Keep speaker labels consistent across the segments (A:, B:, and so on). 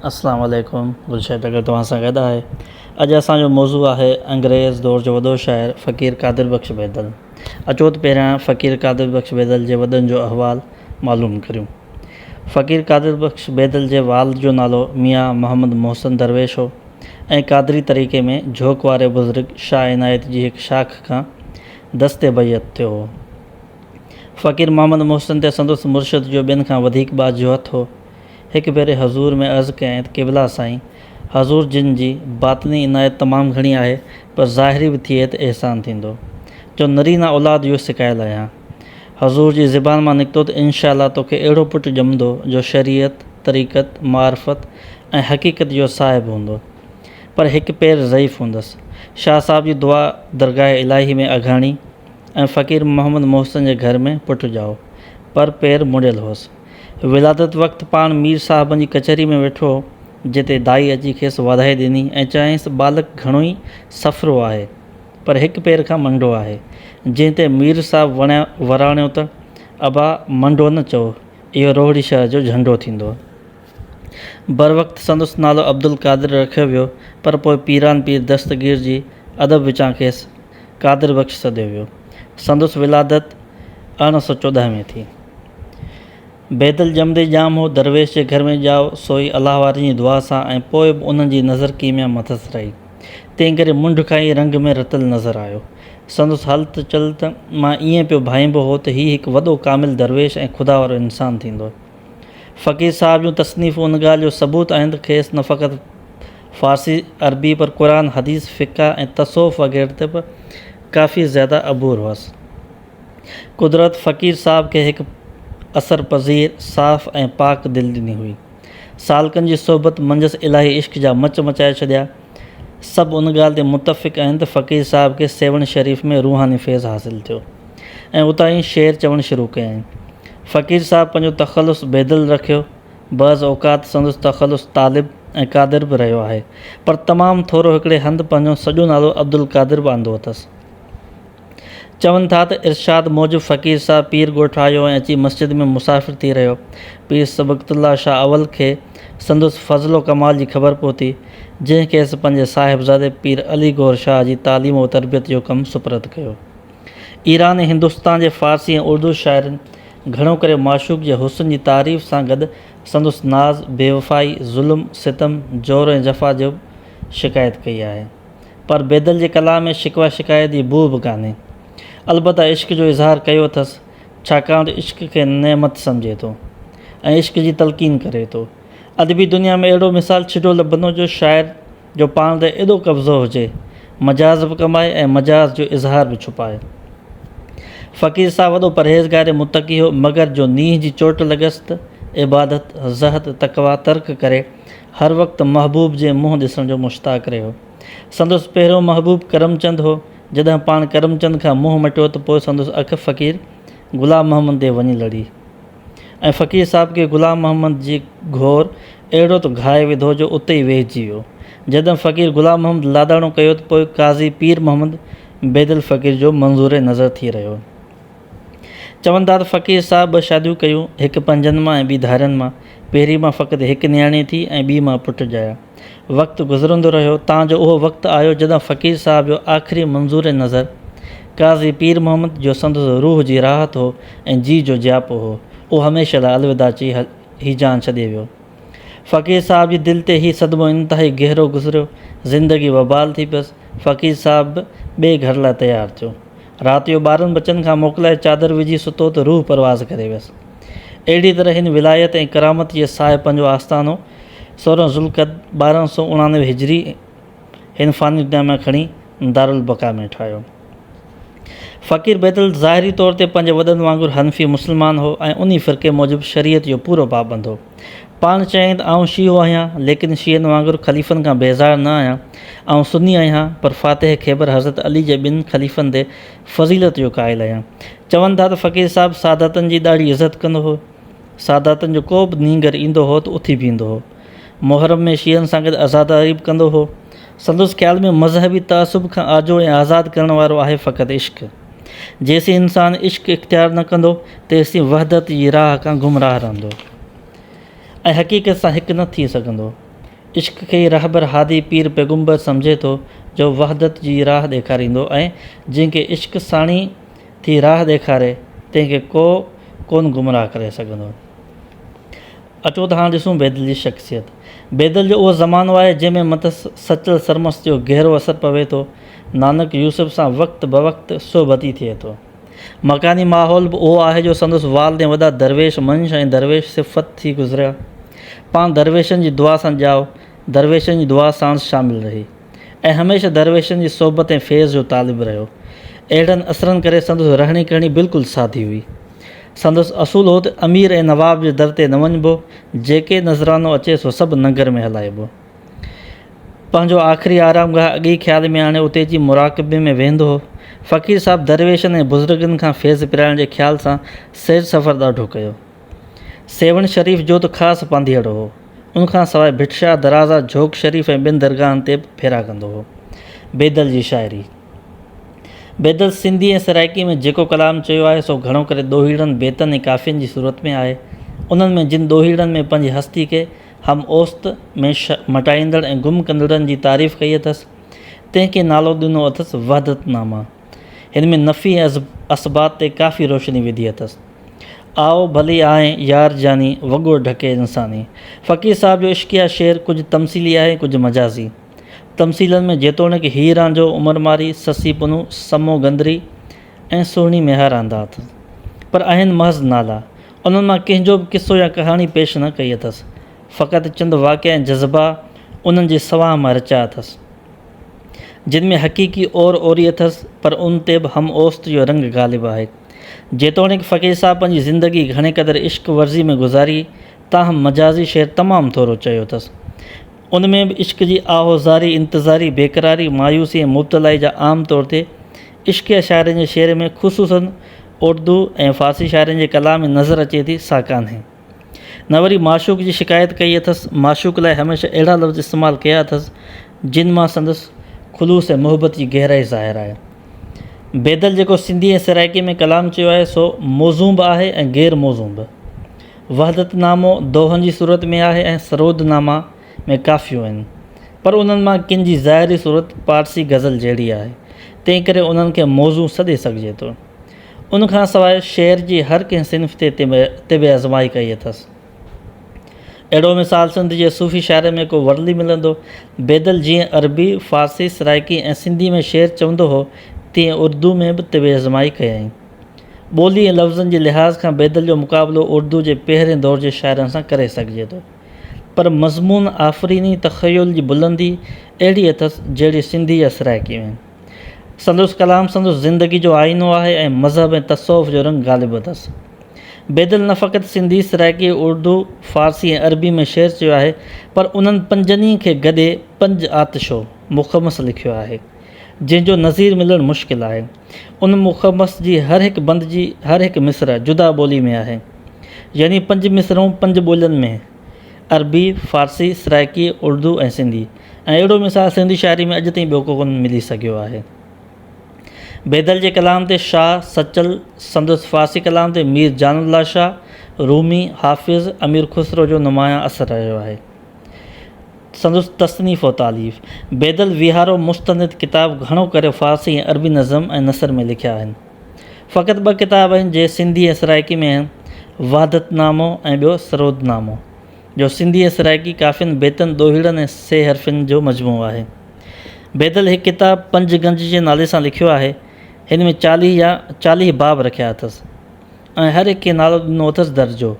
A: السلام عليڪم گل شيد اگر توهان سان گڏ آهي اڄ اسان جو موضوع آهي انگريز دور جو وڏو شاعر فقير قادر بخش بيدل اچو ته پهريان فقير قادر بخش بيدل جي وڏن جو احوال معلوم ڪريون فقير قادر بخش بيدل جي والد جو نالو ميان محمد محسن درويش هو ۽ قادري طريقي ۾ جھوڪ واري بزرگ شاهه عنايت جي هڪ شاخ کان دست بيعت ٿيو هو فقير محمد محسن تي سندس مرشد جو ٻين کان وڌيڪ ٻاجهوت هو. هڪ ڀيري حضور ۾ عرض ڪيائين ته قبلا سائين! حضور جن جي باطني عنايت تمام گهڻي آهي پر ظاهري به ٿئي ته احسان ٿيندو. جو نرينه اولاد اهو سڪايل آهيان. حضور جي زبان مان نڪتو ته انشاء الله توکي اهڙو پٽ ڄمندو جو شريعت، طريقت، معرفت ۽ حقيقت جو صاحب هوندو. پر هڪ پير ضعيف هوندس. شاهه صاحب جي دعا درگاهه الاهي ۾ اگهاڻي. ۽ فقير محمد محسن جي گهر ۾ پٽ ڄائو، پر پير مڙيل هوس. ولادت وقت پاڻ مير صاحبن جي ڪچهري ۾ ويٺو هو، جتي دائي اچي کيس واڌايون ڏني ۽ چيائينس ته ٻالڪ گهڻو ئي سڦرو آهي، پر هڪ پير کان منڊو آهي. جنهن تي مير صاحب وراڻيو ته، ابا منڊو نه چئو، اهو روهڙي شهر جو جهنڊو ٿيندو. بروقت سندس نالو عبدالقادر رکيو ويو، پر پوء پيران پير دستگير جي ادب وچان کيس قادر بخش سڏيو ويو. سندس ولادت ارڙهن سؤ چوڏهن ۾ ٿي. بيدل ڄمندي ڄام هو، درويش جي گهر ۾ ڄائو، سوئي الله وارن جي دعا سان ۽ پوء به انهن جي نظر ڪيميا مٿس رهي. تنهنڪري منڍ کان ئي رنگ ۾ رتل نظر آيو. سندس هلت چلت مان ائين پيو ڀائيبو هو ته هي هڪ وڏو ڪامل درويش ۽ خدا وارو انسان ٿيندو. فقير صاحب جون تصنيفون ان ڳالهه جو ثبوت آهن ته کيس نه فقط فارسي، عربي پر قرآن، حديث، فقه ۽ تصوف وغيره تي به ڪافي زياده عبور هئس. قدرت فقير صاحب کي هڪ اثر پذير، صاف ۽ پاڪ دل ڏني هئي. سالڪن جي صحبت منجهس الاهي عشق جا مچ مچائي ڇڏيا. سڀ ان ڳالهه تي متفق آهن ته فقير صاحب کي سيوهڻ شريف ۾ روحاني فيض حاصل ٿيو ۽ اتان ئي شعر چوڻ شروع ڪيائين. فقير صاحب پنهنجو تخلص بيدل رکيو، بعض اوقات سندس تخلص طالب ۽ قادر به رهيو آهي، پر تمام ٿورو هڪڙي هنڌ پنهنجو سڄو نالو عبدالقادر به آندو اٿس. چون ٿا ته ارشاد موجب فقير صاحب پير ڳوٺ آيو ۽ اچي مسجد ۾ مسافر ٿي رهيو. پير صبغت الله شاهه اول کي سندس فضل و ڪمال جي خبر پهتي، جنهن کيس پنهنجي صاحبزادي پير علي گوهر شاهه جي تعليم و تربيت جو ڪم سپرد ڪيو. ايران ۽ هندستان جي فارسي ۽ اردو شاعرن گهڻو ڪري معشوق جي حسن جي تعريف سان گڏ سندس ناز، بيوفائي، ظلم، ستم، جور ۽ جفا جوب شڪايت ڪئي آهي. پر بيدل جي ڪلام ۾ شڪوه شڪايت جي بوء به ڪانهي. البته عشق جو اظهار ڪيو اٿس، ڇاڪاڻ ته عشق کي نعمت سمجهي ٿو ۽ عشق جي تلقين ڪري ٿو. ادبي دنيا ۾ اهڙو مثال ڇڊو لڀندو جو شاعر جو پاڻ تي ايڏو قبضو هجي، مجاز به ڪمائي ۽ مجاز جو اظهار به ڇپائي. فقير صاحب وڏو پرهيزگار متقي هو، مگر جو نينهن جي چوٽ لڳس ته عبادت، زهد، تقويٰ ترڪ ڪري هر وقت محبوب جي منهن ڏسڻ جو مشتاق رهيو. سندس پهريون محبوب ڪرمچند هو. جڏهن پاڻ ڪرمچند کان منهن مٽيو ته پوء سندس اک فقير غلام محمد تي وڃي لڙي ۽ فقير صاحب کي غلام محمد جي گهور اهڙو ته گهائي وڌو جو اتي ئي ويهجي ويو. جڏهن فقير غلام محمد لاڏاڻو ڪيو ته پوء قاضي پير محمد بيدل فقير جو منظور نظر ٿي رهيو. چون ٿا ته فقير صاحب ٻه شاديون ڪيون، هڪ پنجن مان ۽ ٻي ڌارين مان. پهرين مان فقط هڪ نياڻي ٿي ۽ ٻي مان پٽ ڄايا. وقت گذرندو رهيو تان جو اهو وقت آيو جڏهن فقير صاحب جو آخري منظور نظر قاضي پير محمد جو سندس روح جي راحت هو ۽ جي جو جياپو هو اهو هميشه لاء الوداع چئي هي جان ڇڏي ويو. فقير صاحب جي دل تي هي صدمو انتهائي گهرو گذريو. زندگي وبال ٿي پيس. فقير صاحب به ٻئي گهر لاء تيار ٿيو. رات جو ٻارن ٻچن کان موڪلائي چادر وجهي ستو ته روح پرواز ڪري ويس. اهڙيء طرح هن ولايت ۽ ڪرامت جي ساهه پنهنجو آستانو سورهن ذوالقعد ٻارهن سؤ اڻاڻوي هجري هن فاني دنيا مان کڻي دارالبقا ۾ ٺاهيو. فقير بيدل ظاهري طور تي پنهنجي وڏن وانگر حنفي مسلمان هو ۽ انهي فرقي موجب شريعت جو پورو پابند هو. پاڻ چيائين ته آئون شيعو آهيان، ليڪن شيعن وانگر خليفن کان بيزار نه آهيان. آئون سني آهيان، پر فاتح خيبر حضرت علي جي ٻن خليفن تي فضيلت جو قائل آهيان. چون ٿا ته فقير صاحب ساداتن جي ڏاڍي عزت ڪندو هو. ساداتن جو ڪو به نينگر ايندو هو ته اٿي بيهندو هو. محرم ۾ شيعن سان گڏ عزاداري به ڪندو هو. سندس خيال ۾ مذهبي تعصب کان آجو ۽ آزاد ڪرڻ وارو آهي فقط عشق. جيسين انسان عشق اختيار نه ڪندو تيسين وحدت جي راهه کان گمراهه رهندو ۽ حقيقت سان هڪ نه ٿي سگهندو. عشق کي ئي رهبر هادي پير پيغمبر سمجهي ٿو جو وحدت جي راهه ڏيکاريندو ۽ جنهن کي عشق ساڻيهه ٿي راهه ڏيکاري تنهن کي ڪو ڪونه گمراهه ڪري سگهندو. اچو ته هاڻ ڏسون بيدل جي شخصيت. بيدل جو اهو زمانو آهي جنهن ۾ مٿس سچل سرمست جو گهرو اثر پوي ٿو. نانڪ يوسف سان وقت بوقت صحبتي ٿئي ٿو. مڪاني ماحول به اهو آهي جو سندس والدين وڏا درويش منش ۽ درويش صفت ٿي گذريا. پاڻ درويشن جي دعا سان ڄائو، درويشن جي دعا ساڻس شامل رهي. ۽ هميشه درويشن جي صحبت ۽ فيض جو طالب رهيو. اهڙن اثرن ڪري سندس رهڻي ڪرڻي بلڪل سادي هئي. سندس اصول هو ته امير ۽ نواب جي در تي نه وڃبو، جيڪي نذرانو اچي سو سڀ ننگر ۾ هلائبو. پنهنجو آخري آرام گاهه اڳئي خيال ۾ آڻي اتي جي مراقبي ۾ ويهندو هو. فقير صاحب درويشن ۽ بزرگن کان فيض پرائڻ جي خيال سان سير سفر ڏاڍو ڪيو. سيوهڻ شريف جو ته خاص پانڌيئڙو هو. ان کان سواء ڀٽ شاهه درازا، جھوڪ شريف ۽ ٻين درگاهن تي به ڦيرا ڪندو هو. بيدل جي شاعري. بيدل سنڌي ۽ سرائڪي ۾ جيڪو ڪلام چيو آهي، سو گھڻو ڪري ڏوهيڙن، بيتن ۽ ڪافين جي صورت ۾ آهي. انهن ۾ جن ڏوهيڙن ۾ پنهنجي هستي کي هم اوست ۾ مٽائيندڙ ۽ گم ڪندڙن جي تعريف ڪئي اٿس، تنهن کي نالو ڏنو اٿس وحدت نامه. هن ۾ نفي ۽ اثبات تي ڪافي روشني وڌي اٿس. آء ڀلي آهين يار جاني، وڳو ڍڪي انساني. فقير صاحب جو عشقيه شعر ڪجهه تمثيلي آهي ڪجهه مجازي. تمثيلن ۾ جيتوڻيڪ هيء رانجهو، عمر مارئي، سسي پنهون، سمو گندري ۽ سهڻي ميهار آندا اٿس. پر آهن محض نالا. انهن مان ڪنهن جو به قصو يا ڪهاڻي پيش نه ڪئي اٿس. فقط چند واقعا ۽ جذبا انهن جي سوانح مان رچيا اٿس. جن ۾ حقيقي اور اوري اٿس پر ان تي به هم اوست جو رنگ غالب آهي. جيتوڻيڪ فقير صاحب پنهنجي زندگي گهڻي قدر عشق ورزي ۾ گذاري تاهم مجازي شعر تمام ٿورو چيو اٿس. ان ۾ به عشق جي آهو زاري، انتظاري، بيقراري، مايوسي ۽ مبتلائي جا عام طور تي عشقيه شاعرن جي شعر ۾ خصوصاً اردو ۽ فارسي شاعرن جي ڪلام ۾ نظر اچي ٿي سا ڪانهي. نه وري معشوق جي شڪايت ڪئي اٿس، معشوق لاء هميشه اهڙا لفظ استعمال ڪيا اٿس، جن مان سندس خلوص ۽ محبت جي گهرائي ظاهر آهي. بيدل جيڪو سنڌي ۽ سرائڪي ۾ ڪلام چيو آهي، سو موزون به آهي ۽ غير موزون به. وحدت نامو دوهن جي صورت ۾ آهي ۽ سرود ناما ۾ ڪافيون آهن، پر انهن مان ڪن جي ظاهري صورت پارسي غزل جهڙي آهي، تنهنڪري انهن کي موزون سڏي سگهجي ٿو. ان کان سواء شعر جي هر ڪنهن صنف تي طب ازمائي ڪئي اٿس. اهڙو مثال سنڌ جي صوفي شاعرن ۾ ڪو ورلي ملندو. بيدل جيئن عربي، فارسي، سرائڪي ۽ سنڌي ۾ شعر چوندو هو، تيئن اردو ۾ به طب ازمائي ڪيائين. ٻولي ۽ لفظن جي لحاظ کان بيدل جو مقابلو اردو جي پهرين دور جي شاعرن سان ڪري سگهجي ٿو. پر مضمون آفريني تخيل جي بلندي اهڙي اٿس، جهڙي سنڌي يا سرائڪي ۾. سندس ڪلام سندس زندگي جو آئينو آهي ۽ مذهب ۽ تصوف جو رنگ غالب اٿس. بيدل نه فقط سنڌي، سرائڪي، اردو، فارسي ۽ عربي ۾ شعر چيو آهي پر انهن پنجن ئي کي گڏي پنج آتشو مخمس لکيو آهي، جنهن جو نظير ملڻ مشڪل آهي. ان مخمس جي هر هڪ بند جي هر هڪ مصرع جدا ٻولي ۾ آهي. يعني پنج مصرعون پنج ٻولين ۾. عربي، فارسي، سرائيڪي، اردو ۽ سنڌي ۽ اهڙو مثال سنڌي شاعري ۾ اڄ تائين ٻيو ڪو ڪونه ملي سگهيو آهي. بيدل جي ڪلام تي شاهه، سچل، سندس فارسي ڪلام تي مير جان الله شاهه، رومي، حافظ، امير خسرو جو نمايان اثر رهيو آهي. سندس تصنيف و تاليف، بيدل ويهارو مستند ڪتاب گهڻو ڪري فارسي ۽ عربي نظم ۽ نثر ۾ لکيا آهن. فقط ٻه ڪتاب آهن جي سنڌي ۽ سرائيڪي ۾ آهن، وحدت نامو ۽ ٻيو سرود نامو، جو سنڌي ۽ سرائيڪي ڪافين، بيتن، ڏوهيڙن ۽ سي حرفين جو مجموعو آهي. بيدل هڪ ڪتاب پنج گنج جي نالي سان لکيو آهي، هن ۾ چاليهه يا چاليهه باب رکيا اٿس ۽ هر هڪ کي نالو ڏنو اٿس درجو،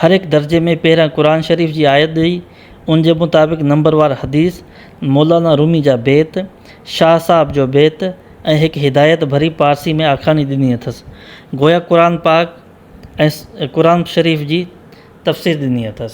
A: هر هڪ درجي ۾ پهريان قرآن شريف جي آيت ڏئي، ان جي مطابق نمبروار حديث، مولانا رومي جا بيت، شاهه صاحب جو بيت ۽ هڪ هدايت ڀري پارسي ۾ آکاڻي ڏني اٿس. گويا قرآن پاڪ ۽ قرآن شريف جي تفسير ڏني اٿس.